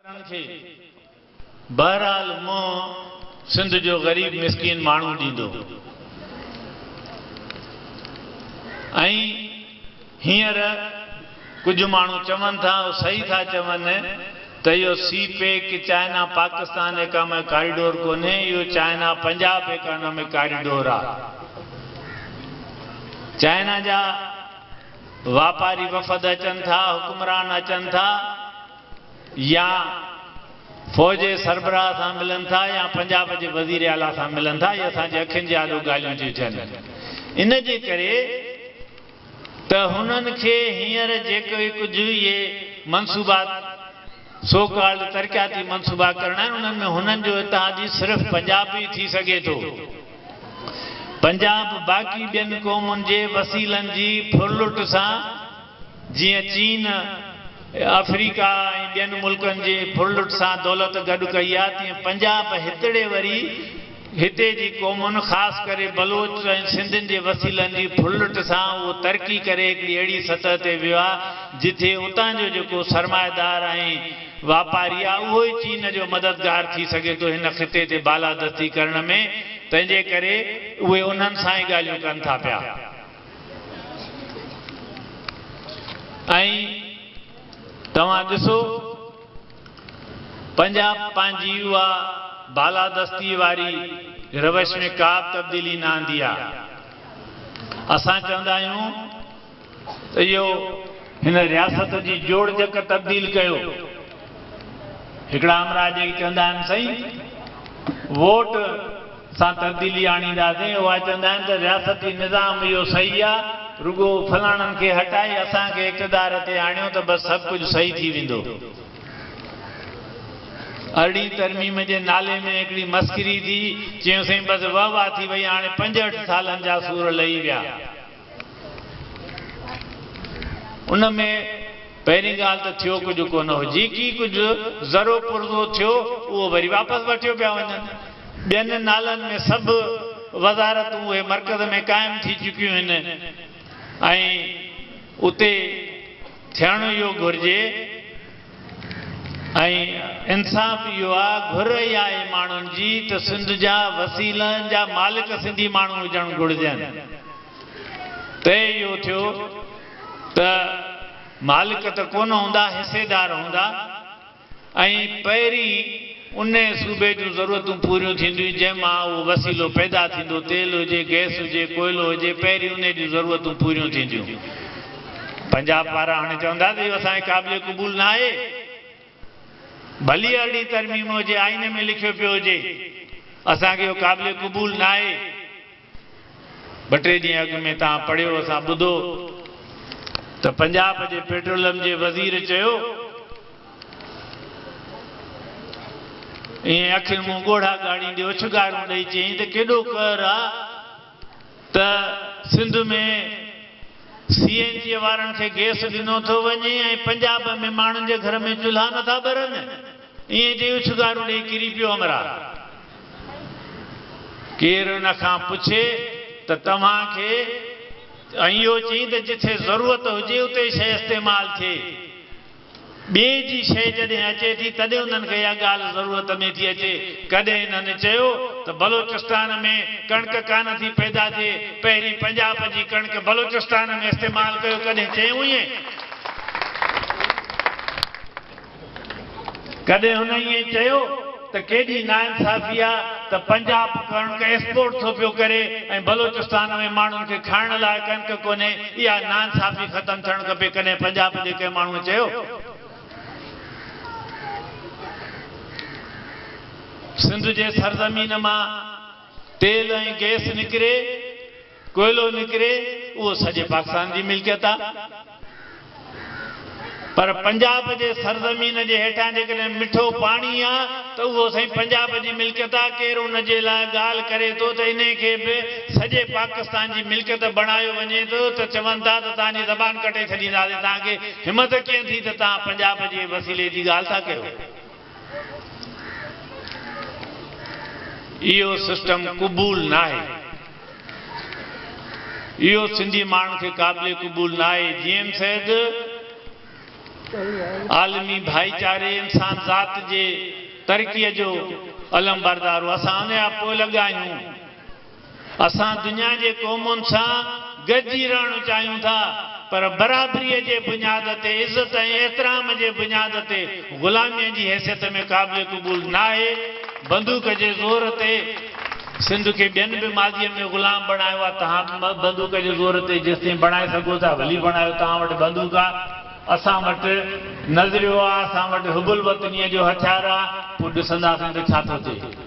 ڪرڻ کي بهرحال منهن سنڌ جو غريب مسڪين ماڻهو ڏيندو ۽ هينئر ڪجهه ماڻهو چون ٿا او صحيح ٿا چون ته اهو CPEC China Pakistan economic corridor ڪونهي اهو چائنا پنجاب ايڪانمڪ ڪاريڊور آ چائنا جا واپاري وفد اچن ٿا حڪمران اچن ٿا. يا فوج جي سربراهه سان ملن ٿا يا پنجاب جي وزير اعليٰ سان ملن ٿا اهي اسان جي اکين جي آڏو ڳالهيون ٿيون ٿين ان جي ڪري ته هنن کي هينئر جيڪي ڪجهه اهي منصوبا سو ڪالڊ ترقياتي منصوبا ڪرڻا آهن انهن ۾ هنن جو اتحادي صرف پنجاب ئي ٿي سگهي ٿو پنجاب باقي ٻين قومن جي وسيلن جي ڦرلٽ سان جيئن چين، آفريڪا ۽ ٻين ملڪن جي ڦرلٽ سان دولت گڏ ڪئي آهي، تيئن پنجاب هتڙي وري هتي جي قومن خاص ڪري بلوچ ۽ سنڌين جي وسيلن جي ڦرلٽ سان اهو ترقي ڪري هڪڙي اهڙي سطح تي ويو آهي، جتي اتان جو جيڪو سرمائيدار ۽ واپاري آهي، اهو ئي چين جو مددگار ٿي سگهي ٿو هن خطي تي بالادستي ڪرڻ ۾، تنهنجي ڪري اهي انهن سان ئي ڳالهيون ڪن ٿا پيا. ائين توهان ڏسو پنجاب پنهنجي اها بالادستي واري روش ۾ ڪا به تبديلي نه آندي آ. اسان چوندا آهيون ته اهو هن رياست جي جوڙجڪ تبديل ڪيو. هڪڙا امراء جيڪي چوندا آهن سائين ووٽ سان تبديلي آڻينداسين، اها چوندا آهن ته رياستي نظام اهو صحيح آ، رڳو فلاڻن کي هٽائي اسان کي اقتدار تي آڻيو ته بس سڀ ڪجهه صحيح ٿي ويندو. ارڙهين ترميم جي نالي ۾ هڪڙي مسخري ٿي، چيون سائين بس وهه واه ٿي وئي هاڻي پنجهٺ سالن جا سور لهي ويا. ان ۾ پهرين ڳالهه ته ٿيو ڪجهه ڪونه هو، جيڪي ڪجهه زرو پرزو ٿيو اهو وري واپس وٺيو پيا وڃن. ٻين نالن ۾ سڀ وزارتون اهي مرڪز ۾ قائم ٿي چڪيون هن ۽ اتي. ٿيڻ اهو گهرجي ۽ انصاف اهو آ گهر اها آهي ماڻهن جي ته سنڌ جا وسيلن جا مالڪ سنڌي ماڻهو هجڻ گهرجن. طئي اهو ٿيو ته مالڪ ته ڪونه هوندا حصيدار هوندا. ۽ پهرين انهي صوبي جون ضرورتون پوريون ٿينديون جنهن مان اهو وسيلو پيدا ٿيندو تيل هجي گئس هجي ڪوئلو هجي پهرين انهي جون ضرورتون پوريون ٿينديون پنجاب وارا هاڻي چوندا ته اهو اسان کي قابل قبول نه آهي ڀلي ارڙهين ترميم هجي آئين ۾ لکيو پيو هجي اسان کي اهو قابل قبول نه آهي. ٻه ٽي ڏينهن اڳ ۾ توهان پڙهيو اسان ٻڌو ته پنجاب جي پيٽرولم جي وزير چيو ائين اکين منهن ڳوڙها ڳاڙيندي اڇنگارون ڏئي چيائين ته ڪيڏو قهر آ ته سنڌ ۾ سي اين جي وارن کي گيس ڏنو ٿو وڃي ۽ پنجاب ۾ ماڻهن جي گهر ۾ چلها نٿا ٻرن. ائين چئي اڇنگارون ڏيئي ڪري پيو امرا. ڪير ان کان پڇي ته توهان کي ۽ اهو چئي ته جٿي ضرورت هجي اتي شيء استعمال ٿئي. ٻئي جي شيء جڏهن اچي ٿي تڏهن انهن کي اها ڳالهه ضرورت ۾ ٿي اچي. ڪڏهن انهن چيو ته بلوچستان ۾ ڪڻڪ ڪانه ٿي پيدا ٿئي، پهرين پنجاب جي ڪڻڪ بلوچستان ۾ استعمال ڪيو، ڪڏهن چيون ائين؟ ڪڏهن هن ائين چيو ته ڪيڏي ناانصافي آ ته پنجاب ڪڻڪ ايڪسپورٽ ٿو پيو ڪري ۽ بلوچستان ۾ ماڻهن کي کائڻ لاء ڪڻڪ ڪونهي اها ناانصافي ختم ٿيڻ کپي ڪڏهن پنجاب جي ڪنهن ماڻهوء چيو سنڌ جي سرزمين مان تيل ۽ گيس نڪري ڪوئلو نڪري اهو سڄي پاڪستان جي ملڪيت آ پر پنجاب جي سرزمين جي هيٺان جيڪڏهن مٺو پاڻي آ ته اهو سائين پنجاب جي ملڪيت آ ڪير ان جي لاء ڳالهه ڪري ٿو ته انهي کي به سڄي پاڪستان جي ملڪيت بڻايو وڃي ٿو ته چون ٿا ته توهان جي زبان ڪٽي ڇڏينداسين توهان کي همت ڪيئن ٿي ته توهان پنجاب جي وسيلي جي ڳالهه ٿا ڪيو. اهو سسٽم قبول ناهي. اهو سنڌي ماڻهن کي قابل قبول ناهي. جي ايم سيد عالمي ڀائيچاري انسان ذات جي ترقي جو علمبردار هو. اسان ان جا پوئلڳ آهيون. اسان دنيا جي قومن سان گڏجي رهڻ چاهيون ٿا پر برابريء جي بنياد تي، عزت ۽ احترام جي بنياد تي غلاميء جي حيثيت ۾ قابل قبول ناهي. بندوق جي زور تي سنڌ کي ٻين به ماضيء ۾ غلام بڻايو آهي، توهان به بندوق جي زور تي جيستائين بڻائي سگهو ٿا ڀلي بڻايو، توهان وٽ بندوق آ، اسان وٽ نظريو آ، اسان وٽ حب الوطنيء جو هٿيار آ، پوء ڏسنداسين ته ڇا ٿو ٿئي.